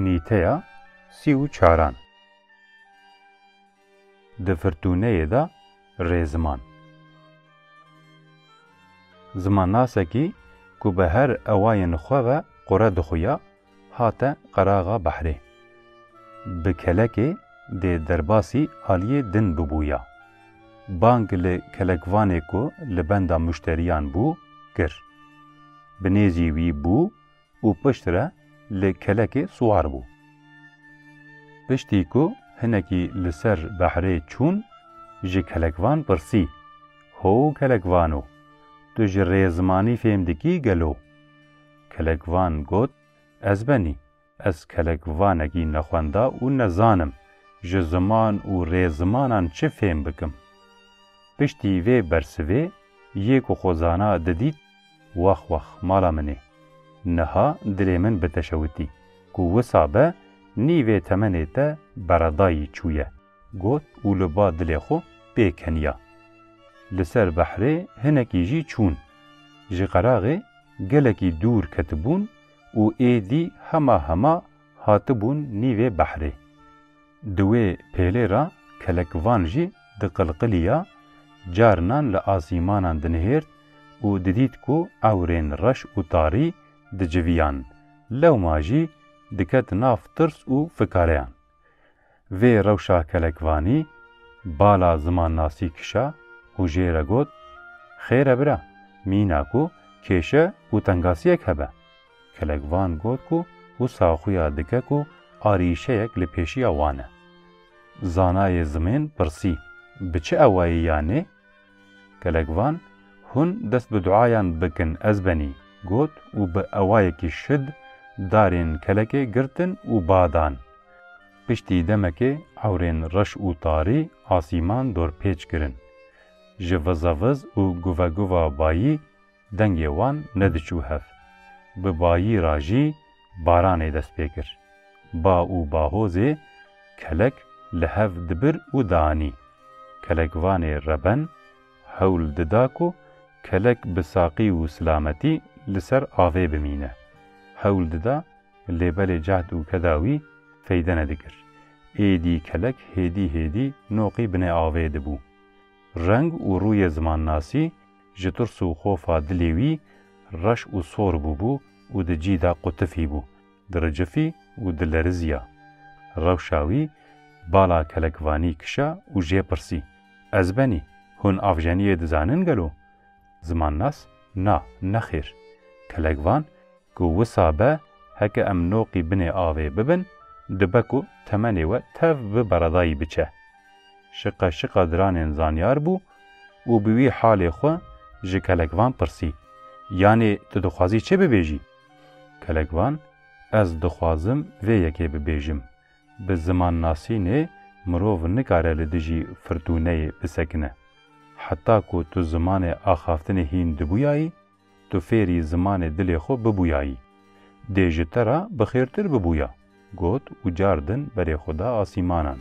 Nîteya sî û çaran Di firtûneyê de rê ziman. Zimannasekî ku bi her ewayên xwe ve qure dixuya, Hate qeraxa behrê. Bi kelekê dê derbasî aliyê din bibûya. Bang li kelekvanê ku li benda muşteriyan bû kir. Bi nêzî wî bû û piştre li kelekê siwar bû. Piştî ku hinekî li ser behrê çûn ji kelekvan pirsî, Ho kelekvano, tu ji rê zimanî fêm dikî gelo? Kelekvan got, Ez benî, ez kelekvanekî nexwenda û nezanim ji ziman û rêzimanan çi fêm bikim. Piştî vê bersivê yê ku xwe zana didît, Wex wex mala min ê. Niha dilê min biteşewitî ku wisa be nî vê temenê te beredayî çûye. Got û li ba dilê xwe pê keniya. Li ser behrê hinekî jî çûn. Ji qeraxê gelekî dûr ketibûn û êdî hema hema hatibûn nîvê behrê. Di wê pêlê ra kelekvan jî diqilqilîya, carinan li asîmanan dinihêrt û didît ku ewrên reş û tarî dicivîyan, lewma jî diket nav tirs û fikareyan. Vê rewşa kelekvanî bala zimannasî kişa û jê re got, Xêr e bira, mîna ku kêşe û tengasiyek hebe. Kelekvan got ku wisa xuya dike ku arîşeyek li pêşiya wan e. Zanayê zimên pirsî, Bi çi ewayî ya nê? Gelek van, Hûn dest bi duayan bikin ez benî, got û bi ewayekî şid darên kelekê girtin û ba dan. Piştî demekê ewrên reş û tarî asîman dorpêç kirin. Ji viza viz û guva guva bayî Dengê wan nediçû hev. Bi bayî ra jî baranê dest pê kir. Ba û bahozê kelek li hev dibir û dianî. Kelekvanê reben hewl dida ku kelek bi saqî û silametî li ser avê bimîne. Hewl dida lê belê cehd û keda wî feyde nedikir. Êdî kelek hêdî hêdî noqî binê avê dibû. Reng û rûyê zimannasî Ji tirs û xofa dilê wî reş û sor bûbû û di cî de qutifî bû, diricifî û dilerizîya. Rewşa wî bala kelekvanî kişa û jê pirsî, Ez benî, hûn avjeniyê dizanin gelo? Zimannas, Na, nexêr. Kelekvan, ku wisa be heke em noqî binê avê bibin, dibe ku temenê we tev bi beredayî biçe. Şiqe şiqe diranên zanyar bû û bi wî halê xwe ji kelekvan pirsî, Yanê tu dixwazî çi bibêjî? Kelekvan, Ez dixwazim vê yekê bibêjim, Bi zimannasînê mirov nikare li dijî firtûneyê bisekine. Heta ku tu zimanê axaftinê hîn dibûyayî, Tu fêrî zimanê dilê xwe bibûyayî, dê ji te re bi xêrtir bibûya, got û car din berê xwe da asîmanan.